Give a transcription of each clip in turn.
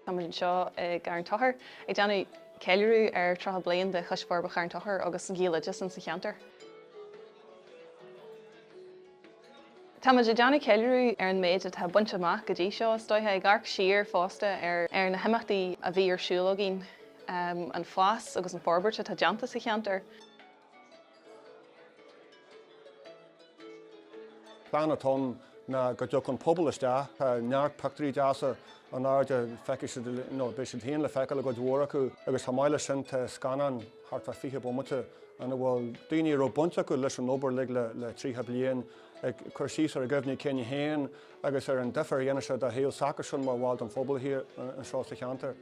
Táimid anseo i gCarn Tóchair ag déanamh ceiliúradh ar 30 bliain de Choiste Forbartha Charn Tóchair agus Gaeloideas ins an cheantar. Táimid ag déanamh ceiliúradh ar an méid atá bainte amach go dtí seo, is dóiche, ag amharc siar fosta ar na himeachtaí a bhí ar siúl againn, an fás agus an fhorbairt atá déanta sa cheantar. Plean atá ann ná go dtiocfadh an pobal isteach. Tá neart pictiúirí deasa in airde, feicfidh siad, ó beidh siad féin le feiceáil i gcuid mhór acu, agus chomh maith leis sin tá scannáin thart fá fiche bomaite ina bhfuil daoine a raibh baint acu leis an obair uilig le tríocha bliain ag cur síos ar a gcuimhní cinn féin agus ar an difear a dhéanann sé don tsaol s'acusan mar bhall den phobal anseo sa cheantar.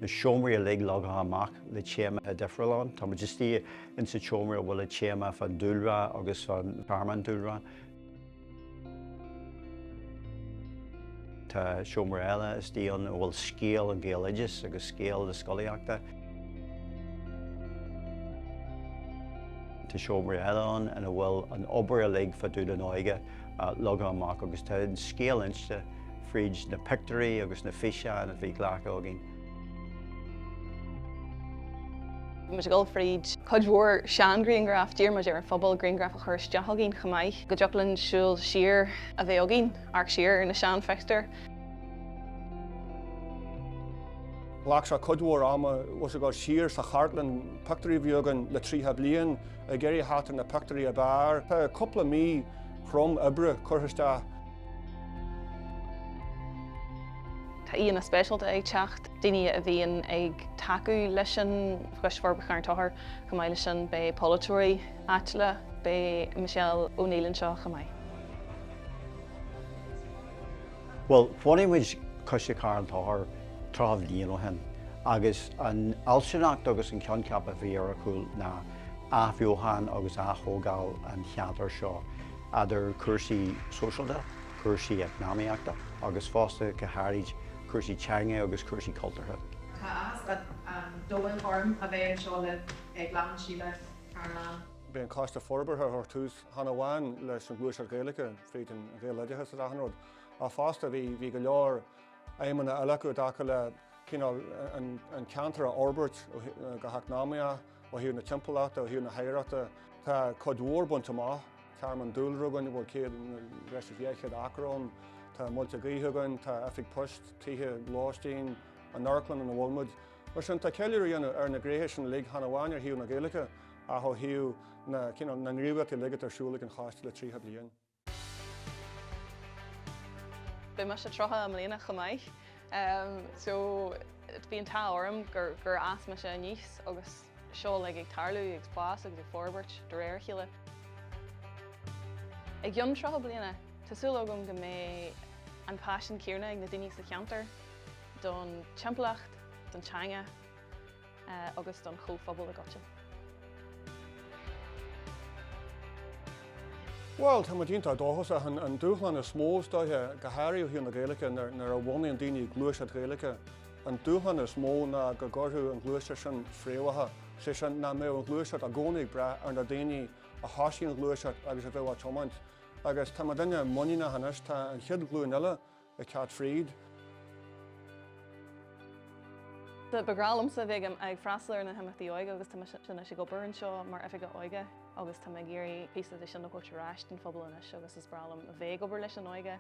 Na seomraí uilig leagtha amach le téamaí difriúla ann. Tá muid istigh ins an tseomra a bhfuil an téama fán dúlra agus fán tearmann dúlra. Tá seomra eile istigh ann a bhfuil scéal an Ghaeloideachais agus scéal na scolaíochta. Tá seomra eile ann ina bhfuil an obair uilig faoi Chlub na nÓige leagtha amach agus tá an scéal inste fríd na pictiúirí agus na físeáin a bhí glactha againn. Bhí muid ag dul fríd cuid mhór seanghrianghraif, d'iarr muid ar an phobal grianghraif a chur isteach againn chomh maith, go dtiocfadh linn súil siar a bheith againn, amharc siar ar na seanphictiúir. Ghlac sé cuid mhór ama ag gabháil siar sa chartlann pictiúirí a bhí againn le tríocha bliain. Ag iarraidh a sheiceáil na pictiúirí ab fhearr. Tá cúpla mí chrua oibre curtha isteach. Tá aíonna speisialta ag teacht, daoine a bhíonn ag tacú leis an Choiste Forbartha Charn Tóchair. Chomh maith leis sin beidh polaiteoirí áitiúla, beidh Michelle O'Neill anseo chomh maith. Bhuel, bhunaigh muid Coiste Carn Tóchair tríocha bliain ó shin agus an fhealsúnacht agus an coincheap a bhí ar a chúl ná athbheochan agus aththógáil an cheantair seo, eadar cúrsaí sóisialta, cúrsaí eacnamaíochta agus fosta, go háirid, cúrsaí teanga agus cúrsaí cultúrtha. Tá áthas an domhain orm a bheith anseo libh ag lainseáil seo An Carn. B'é an Coiste Forbartha a chuir tús chan amháin leis an ghluaiseacht Ghaeilge fríd an Ghaeloideachas is achan rud, ach fosta bhí bhí go leor aidhmeanna eile acu i dtaca le cineál, an ceantar a fhorbairt go heacnamaíoch, ó thaobh na timpeallachta, ó thaobh na hoidhreachta. Tá cuid mhór bainte amach, tearmann dúlra againn a bhfuil céad, breis is dhá chéad acra ann, tá muilte gaoithe againn, tá oifig poist, tithe lóistín, an amharclann ina bhfuil muid. Mar sin, tá ceiliúradh á dhéanamh ar na gréithe sin uilig chan amháin ar thaobh na Gaeilge ach ó thaobh na, cineál, na ngníomhaíochtaí uilig atá ar siúl ag an choiste le tríocha bliain. Beidh mise tríocha i mbliana chomh maith so bhí an t-ádh orm gur, gur fhás mise aníos agus seo uilig ag tarlú, ag fás agus ag forbairt de réir a chéile. I gceann tríocha bliain, tá súil agam go mbeidh an paisean céanna ag na daoine sa cheantar don timpeallacht, don teanga, agus don phobal i gcoitinne. Bhuel, tá muid iontach dóchasach. An dúshlán is mó is dóiche, go háirithe ó thaobh na Gaeilge, nuair a bhunaíonn daoine gluaiseacht Ghaeilge, an dúshlán is mó ná go gcuirfeadh an ghluaiseacht sin fréamhacha, is é sin, nach mbeadh an ghluaiseacht i gcónaí ag brath ar na daoine a thosaíonn an ghluaiseacht agus a bheadh á tiomáint. Agus tá muidinne muiníneach anois, tá an chéad ghlúin eile ag teacht fríd. Ba ghnách liomsa a bheith ag ag freastal ar na himeachtaí óige agus tá mise anois ag obair anseo mar oifigeach óige agus tá mé ag iarraidh píosa de sin a thabhairt ar ais don phobal anois agus is breá liom a bheith ag obair leis an óige.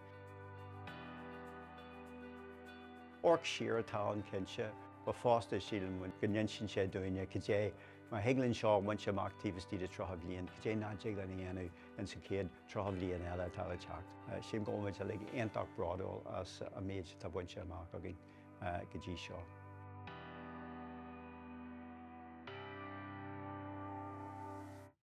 Amharc siar atá ann cinnte, ach fosta síleann muid go n-insíonn sé dúinne cad é má thig linn seo a bhaint amach taobh istigh de 30 bliain, cad é nach dtig linn a dhéanamh ins an chéad 30 bliain eile atá le teacht. Sílim go bhfuil muid uilig iontach bródúil as an méid atá bainte amach againn go dtí seo.